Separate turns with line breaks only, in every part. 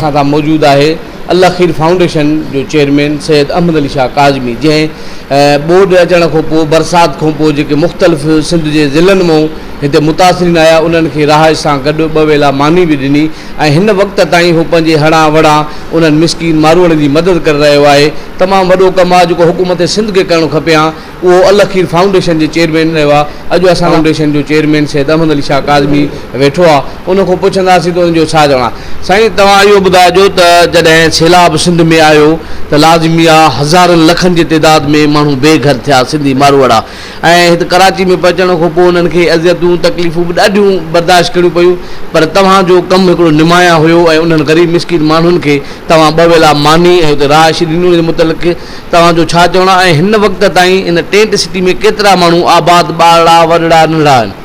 اسان سان موجود آهي الله خير فائونڊيشن جو چيئرمين سيد احمد علي شاهه ڪاظمي جنهن ٻوڏ اچڻ کان پوء برسات کان پوء جيڪي مختلف سنڌ جي ضلعن مئون هتي متاثرين آيا انهن کي رهائش سان گڏ ٻه ويلا ماني به ڏني ۽ هن وقت تائين هو پنهنجي هڙان وڙان انهن مسڪين ماروئڙن جي مدد ڪري رهيو آهي تمام وڏو ڪم آ جيڪو حڪومت سنڌ کي ڪرڻ کپي ھان اھو الاخير فائونڊيشن جي چيئرمين رھيو آ اڄ اسان سان فائونڊيشن جو چيئرمين سيد احمد علي شاھ ڪاظمي ويٺو آ ان کان پڇنداسين ته ان جو ڇا چوڻ آ سائين توھان اھو ٻڌائجو ته جڏھن سيلاب سنڌ ۾ آيو ته لازمي آ ھزارن لکن جي تعداد ۾ ماڻھو بي گھر ٿيا سنڌي ماروئڙا ۽ هت ڪراچي ۾ پهچڻ کان پوء انهن کي اذيتون تڪليفون به ڏاڍيون برداشت ڪرڻيون پيون پر توهان جو ڪم هڪڙو نمايان هيو ۽ انهن غريب مسڪين ماڻهن کي توهان ٻه ويلا ماني ۽ اتي رهائش ڏني ان متعلق توهان جو ڇا چوڻ آهي ۽ هن وقت تائين ان ٽينٽ سٽي ۾ ڪيترا ماڻهو آباد ٻارڙا وڏڙا ننڍڙا آهن.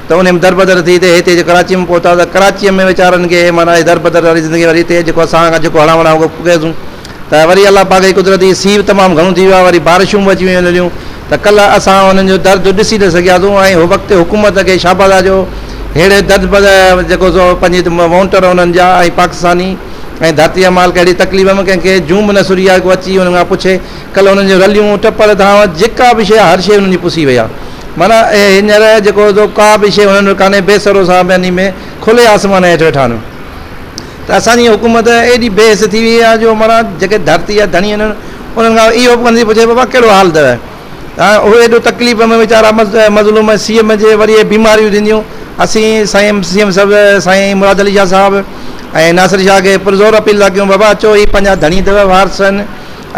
ته انهيء ۾ دربدر ٿي ته هتي جي ڪراچيء ۾ پهتا ته ڪراچيء ۾ ويچارن کي اهي معنيٰ اهي دربدر واري زندگي وري هتي جيڪو اسان کان جيڪو هڙان وڙان هو ڪيسون ته وري الله پاڪ جي قدرت هي سيء به تمام گهڻو ٿي ويو آهي وري بارشون به اچي ويون لليون ته ڪلهه اسان انهن جو درد ڏسي نه سگهياسون ۽ هو وقت حڪومت کي شاباس آهي جو ههڙي دربدر جيڪو سو پنهنجي وونٽر انهن جا ۽ پاڪستاني ۽ ڌرتيء جا مالڪ اهڙي تڪليف ۾ ڪنهن کي جون به نه سري آهي ڪو اچي انهن کان پڇي ڪلهه هنن جون رليون، ٽپڙ، ڌانء جيڪا به شيء آهي هر شيء هنن جي پسي وئي آهي. معنيٰ هينئر جيڪو هوندو ڪا به شيء هنن وٽ ڪانهي بي سرو سان بيني ۾ کلي آسمان هيٺ ويٺا آهن. ته اسان جي حڪومت ايڏي بي حس ٿي وئي آهي جو معنيٰ جيڪي ڌرتي جا ڌڻي آهن انهن کان اهو به ڪونه ٿي پڇي بابا ڪهڙو حال اٿئي. هاڻ اهي ايڏو تڪليف ۾ ويچارا مظلوم ۽ سي ايم جي وري اهي بيماريون ٿينديون اسين سائين سي ايم صاحب سائين مراد علي شاهه صاحب ۽ ناصر شاهه کي پرزور اپيل ٿا ڪيون بابا اچو هي پنهنجا ڌڻي اٿئو وارث آهن.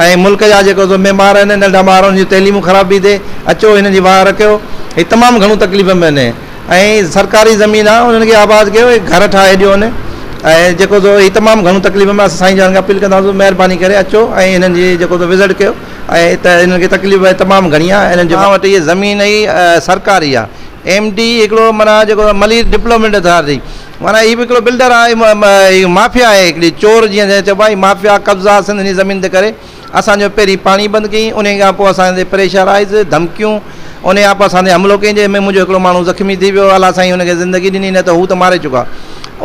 ۽ ملڪ جا جيڪو ذميوار آهن ننڍا ٻار انهن جون تعليمون خراب بي تي اچو هنن جي واهه رکيو هي تمام گهڻو تڪليف ۾ آهن ۽ سرڪاري زمين آهي انهن کي آباد ڪيو هي گهر ٺاهي ڏيو هن ۽ جيڪو سو هي تمام گهڻو تڪليف ۾ آهن سائين جان کي اپيل ڪنداسون مهرباني ڪري اچو ۽ هنن جي جيڪو سو وزٽ ڪيو ۽ ته هنن کي تڪليف آهي تمام گهڻي آهي هنن جي وٽ هي زمين هي سرڪاري آهي ايم ڊي هڪڙو معنيٰ جيڪو ملير ڊپلومينٽ اٿارٽي معنيٰ هي به هڪڙو بلڊر آهي هي مافيا آهي هڪڙي چور جيئن چئبو آهي هي مافيا قبضا سنڌ جي زمين تي ڪري اسان جو پهرين پاڻي بند ڪيئين انهي کان پوء اسان تي پريشرائيز ڌمڪيون انهي کان پوء اسان تي حملو ڪيئين جنهن ۾ منهنجو هڪڙو ماڻهو زخمي ٿي ويو الله سائين هن کي زندگي ڏني نه ته هو ته ماري چڪا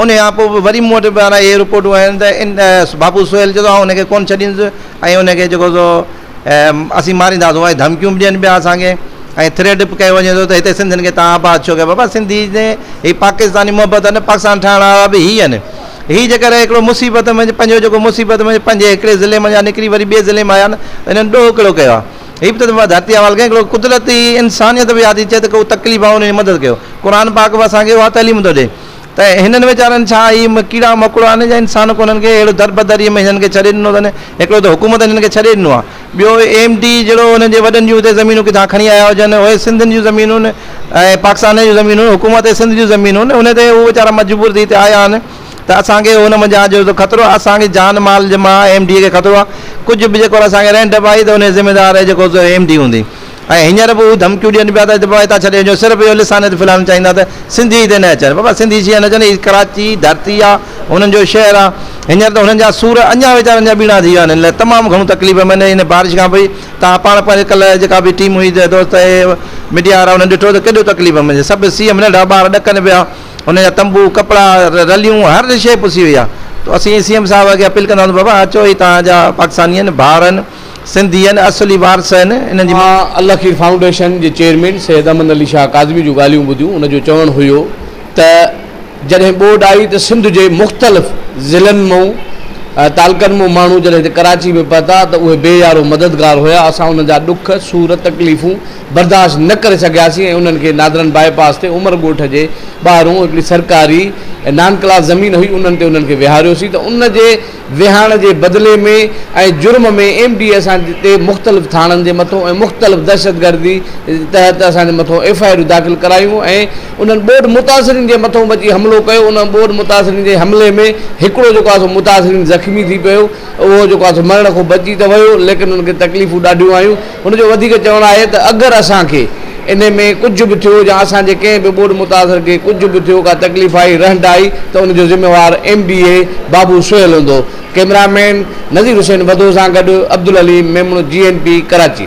انهي کان پوء به وري مون وٽ معنيٰ اهي رپورٽون آيون ته ان بابو سهيل چئي ٿو آئون هن کي ڪونه ڇڏيندس ۽ ان کي جيڪو سو اسين مارينداسون ۽ ڌمڪيون به ڏين پيا اسان کي ۽ ٿريٽ به ڪيو وڃي ٿو ته هتي سنڌين کي تان آباد ڇو ڪيو بابا سنڌي جي هي پاڪستاني محبت آهي نه پاڪستان ٺاهڻ وارا به هي آهن هي جيڪر هڪڙو مصيبت ۾ پنهنجو جيڪو مصيبت ۾ پنهنجي هڪڙي ضلعي مان نڪري وري ٻئي ضلعي مان آيا نه انهن ڏوهه ڪهڙو ڪيو آهي هي به ته ڌرتي حوال ڪيو هڪڙو قدرتي انسانيت به ياد ٿئي ته ڪو تڪليف آهي انهن جي مدد ڪيو قرآن پاڪ به اسان کي اها تعليم ٿو ڏئي ته هنن ويچارن ڇا هي ڪيڙا مڪوڙا آهن يا انسان ڪو هنن کي اهڙو دربدريء ۾ هنن کي ڇڏي ڏنو اٿن. هڪڙو ته حڪومت هنن کي ڇڏي ڏنو آهي. ٻيو ايم ڊي جهڙو هنن جي وڏن جون هتي زمينون ڪٿان کڻي آيا هجن. اهي سنڌ جون زمينون ۽ پاڪستان جون زمينون حڪومت سنڌ جون زمينون ان تي هو ويچارا مجبور ٿي هتي آيا آهن ته اسان کي هن منجهان جو خطرو آهي اسان کي جان مال جي مان ايم ڊي کي خطرو آهي ڪجهه به جيڪو اسان کي رهن ڊپ آئي ته ان جي ذميدار جيڪو سو ايم ڊي هوندي. ۽ هينئر به هو ڌمڪيون ڏين پيا ته بابا هتان ڇڏي وڃو صرف اهو لسان هت ڦلائڻ چاهيندا ته سنڌي هتي نه اچن بابا سنڌي شيعا نه اچن هي ڪراچي ڌرتي آ هنن جو شهر آ هينئر ته هنن جا سور اڃان ويچارن جا ٻيڻا ٿي ويا آهن هن لاء تمام گهڻو تڪليف ۾ آهن هن بارش کان پوء توهان پاڻ پنهنجي ڪلهه جيڪا به ٽيم هئي دوست اهي ميڊيا وارا انهن ڏٺو ته ڪيڏو تڪليف ۾ سڀ سي ايم ننڍا ٻار ڏڪن پيا هنن جا تنبو ڪپڙا رليون هر شيء پسي وئي آ تو اسين سي ايم صاحب کي اپيل ڪنداسون بابا اچو هي توهان جا پاڪستاني آهن ڀائر آهن سنڌين اصلي وارث آهن انهن جي. مان الخير فائونڊيشن
جي چيئرمين سيد امن علي شاهه ڪاظمي جون ڳالهيون ٻڌيون ان جو چوڻ هيو ته جڏهن ٻوڏ آئي ته سنڌ جي مختلف ضلعن مئون تعلقن مئون ماڻهو جڏهن هتي ڪراچي ۾ پهتا ته اهي بي يارو مددگار هيا اسان انهن جا ڏک سور تڪليفون برداشت نه ڪري سگهياسين ۽ انهن کي نادرن بائي پاس تي عمر ڳوٺ جي ٻاهرون هڪڙي سرڪاري نان ڪلاس زمين هئي انهن تي انهن کي ويهاريوسين ته ان جي ويهاڻ جي بدلي ۾ ۽ جرم ۾ ايم ڊي اي اسان تي مختلف ٿاڻن جي مٿو ۽ مختلف دهشتگردي تحت اسان جي مٿو ايف آء آرون داخل ڪرايون ۽ انهن ٻوڏ متاثرين جي مٿو به اچي حملو ڪيو ان ٻوڏ متاثرين جي حملي ۾ هڪڙو جيڪو آهي سو متاثرين زخمي ٿي پيو اهو جيڪو آهي سو مرڻ کان بچي ته ويو ليڪن ان کي تڪليفون ڏاڍيون آيون هن جو وڌيڪ چوڻ آهي ته اگر اسان کي انهي ۾ ڪجهه به ٿيو يا اسان جي ڪنهن به ٻوڏ متاثر کي ڪجهه به ٿيو ڪا تڪليف آئي رهنڊ آئي ته ان جو ذميوار ايم بي اي بابو سهيل هوندو ڪئميرا مين نذير حسين وڌو سان گڏ عبدالحليم ميمڻ جي اين پي ڪراچي.